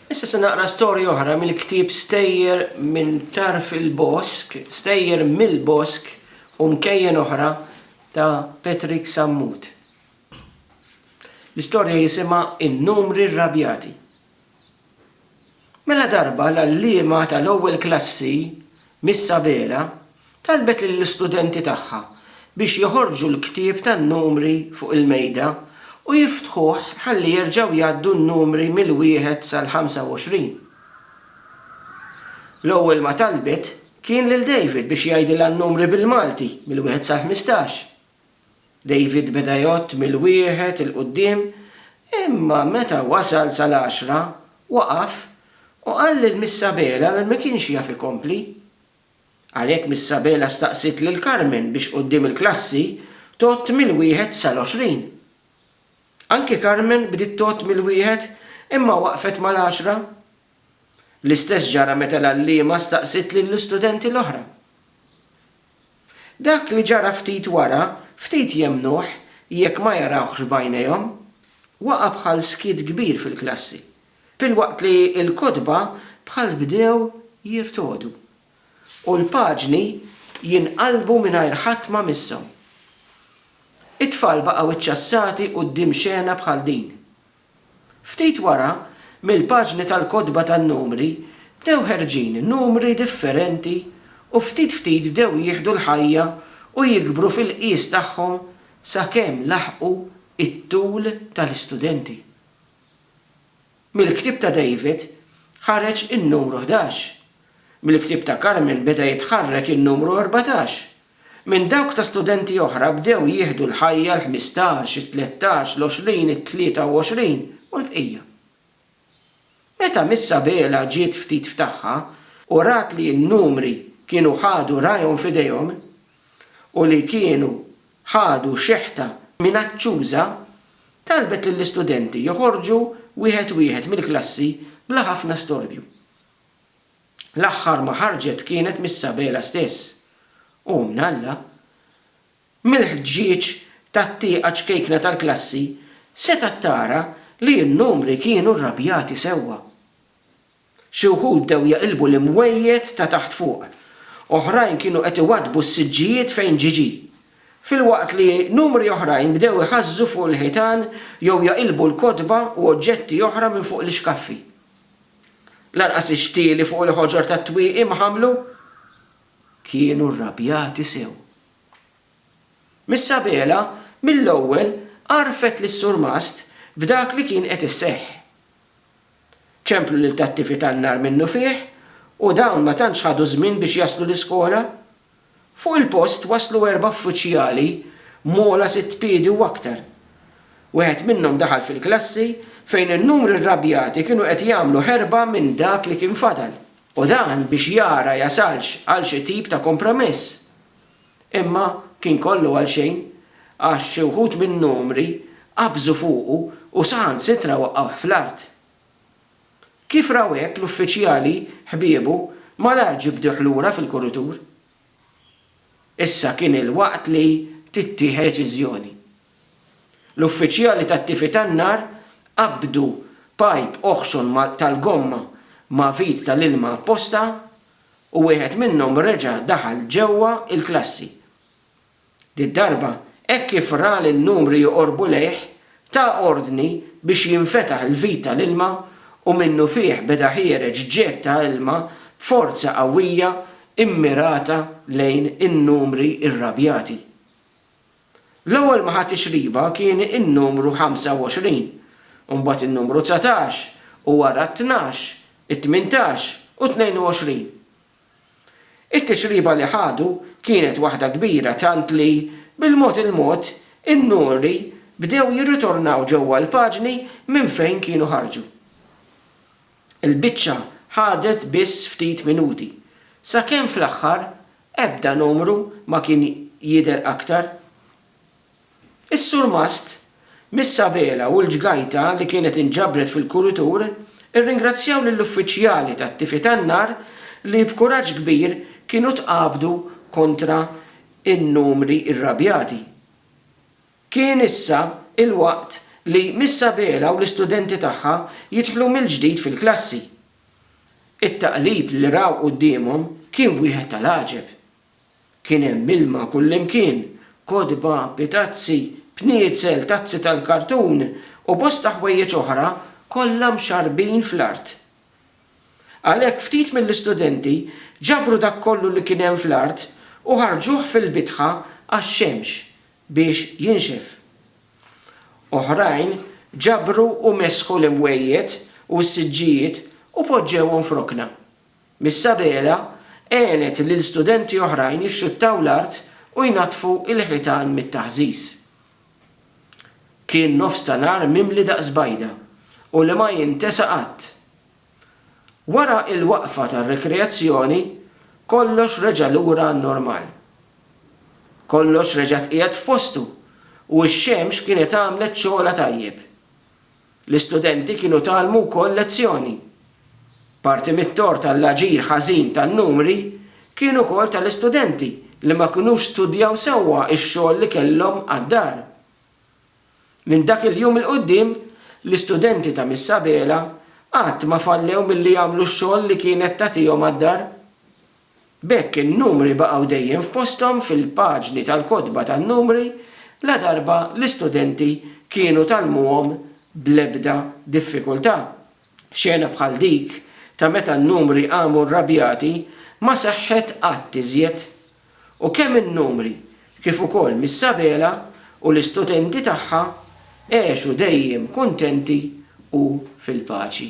Issa se naqra storja oħra mill-ktieb Stejjer minn Tarf il-Bosk, Stejjer mill-Bosk u Mkejjen Oħra ta' Patrick Sammut. L-istorja jisimha In-Numri Rrabjati. Mela darba l-għalliema tal-ewwel klassi Miss Abela talbet lill-istudenti tagħha biex joħorġu l-ktieb tan-numri fuq il-mejda u jiftħuh ħalli jerġgħu jgħaddu n-numri mill-wieħed sal-ħamsa u għoxrin. L-ewwel ma talbet kien lil David biex jgħidilha n-numri bil-Malti mill-wieħed sal-ħmistax. David beda jgħodd mill-wieħed 'il quddiem, imma meta wasal sal-għaxra, waqaf u qal lil Miss Abela li ma kienx jaf ikompli. Għalhekk Miss Abela staqsiet lil Carmen biex quddiem il-klassi tgħodd mill-wieħed sal-għoxrin. Anki Carmen bdiet tgħodd mill-wieħed imma waqfet mal-għaxra. L-istess ġara meta l-għalliema staqsiet lill-istudenti l-oħra. Dak li ġara ftit wara, ftit jemmnuh jekk ma jarawhx b'għajnejhom. Waqa' bħal skiet kbir fil-klassi, filwaqt li l-kotba bħal bdew jirtogħdu, u l-paġni jinqalbu mingħajr ħadd ma misshom. It-tfal baqgħu ċċassati quddiem xena bħal din. Ftit wara, mill-paġni tal-kotba tan-numri bdew ħerġin numri differenti u ftit ftit bdew jieħdu l-ħajja u jikbru fil-qies tagħhom sakemm laħqu t-tul tal-istudenti. Mill-ktieb ta' David ħareġ in-numru ħdax. Mill-ktieb ta' Carmen beda jitħarrek in-numru erbatax. minn dawk ta' studenti oħra bdew jieħdu l-ħajja l-ħmistax, it-tlettax, l-għoxrin, it-tlieta u għoxrin u l-bqija. Meta Miss Sabela ġiet ftit f'tagħha u rat li n-numri kienu ħadu rajhom f'idejhom u li kienu ħadu xeħta minaċċuża, talbet lill-istudenti joħorġu wieħed wieħed mill-klassi bla ħafna storbju. L-aħħar ma ħarġet kienet mis-Sabela stess, u minn Alla. Mill-ħġieġ tat-tieqa ċkejkna tal-klassi setgħet tara li n-numri kienu rrabjati sewwa. Xi wħud bdew jaqilbu l-imwejjed ta' taħt fuq. Oħrajn kienu qed iwaddbu s-siġġijiet fejn ġiġi. Filwaqt li numri oħrajn bdew iħażżu fuq il-ħitan jew jaqilbu l-kotba u oġġetti oħra minn fuq l-ixkaffi. Lanqas ix-xtieli fuq il-ħoġor tat-twieqi ma ħamlu. Kienu rrabjati sew. Miss Sabela mill-ewwel għarfet lis-surmast b'dak li kien qed iseħħ. Ċemplu lil tat-tifi tan-nar minnufih u dawn ma tantx ħadu żmien biex jaslu l-iskola. Fuq il-post waslu erba' uffiċjali m'ogħla sitt piedi u aktar. Wieħed minnhom daħal fil-klassi fejn in-numri rrabjati kienu qed jagħmlu ħerba minn dak li kien fadal u dan biex jara jasalx għal xi tip ta' kompromess. Imma kien kollu għal xejn għax xi wħud min-numri qabżu fuqu u saħansitra waqqgħuh fl-art. Kif raw hekk l-uffiċjali ħbiebu, malajr ġibduh lura fil-kuritur. Issa kien il-waqt li tittieħed deċiżjoni. L-uffiċjali tat-tifi tan-nar qabdu pajp oħxon tal-gomma ma' vit tal-ilma apposta u wieħed minnhom reġa' daħal ġewwa l-klassi. Did-darba, hekk kif ra li n-numri joqorbu lejh, ta ordni biex jinfetaħ il-vit tal-ilma u minnufih beda ħiereġ ġegħed ta' ilma b'forza qawwija mmirata lejn in-numri irrabjati. L-ewwel ma ħa tixriba kien in-numru 25, u mbagħad in-numru 19, u wara t-tnax, it-tmintax u t-tnejn u għoxrin. It-tixriba li ħadu kienet waħda kbira tant li, bil-mod il-mod, in-nuri bdew jirritornaw ġewwa l-paġni minn fejn kienu ħarġu. Il-biċċa ħadet biss ftit minuti, sakemm fl-aħħar ebda numru ma kien jidher aktar. Is-surmast, mis-sabela u l-ġgajta li kienet inġabret fil-kuritur irringrazzjaw lill-uffiċjali tat-tifi tan-nar li b'kuraġġ kbir kienu tqabdu kontra n-numri irrabjati. Kien issa l-waqt li mis-sabela u l-istudenti tagħha jidħlu mill-ġdid fil-klassi. It-taqlib li raw quddiemhom kien wieħed tal-għaġeb. Kien hemm ilma kullimkien, kotba, pitazzi, bniezel, tazzi tal-kartun u bosta ħwejjeġ oħra kollha mxarrbin fl-art. Għalhekk ftit mill-istudenti ġabru dak kollu li kien hemm fl-art u ħarġuh fil-bitħa għax-xemx biex jinxef. Oħrajn ġabru u mesħu l-imwejjed u s-siġġijiet u poġġewhom f'rokna. Missabela għenet lil studenti oħrajn jixxuttaw l-art u jnaddfu l-ħitan mit-taħżiż. Kien nofs ta' nhar mimli daqs bajda u li ma jintesa qatt. Wara l-waqfa tar-rikreazzjoni kollox reġa' lura għan-normal. Kollox reġa' tqiegħed f'postu u x-xemx kienet għamlet xogħolha tajjeb. L-istudenti kienu tgħallmu wkoll lezzjoni. Parti mit-tort għall-aġir ħażin tan-numri kien ukoll tal-istudenti li ma kinux studjaw sewwa x-xogħol li kellhom għad-dar. Minn dak il-jum 'il quddiem, l-istudenti ta' Miss Abela qatt ma fallew milli jagħmlu x-xogħol li kienet tagħtihom għad-dar. B'hekk in-numri baqgħu dejjem f'posthom fil-paġni tal-kotba tan-numri ladarba l-istudenti kienu tgħallmuhom bl-ebda diffikultà. Xena bħal dik ta' meta n-numri qamu rrabjati ma seħħet qatt iżjed. U kemm in-numri kif ukoll Miss Abela u l-istudenti tagħha għexu dejjem kuntenti u fil-paċi.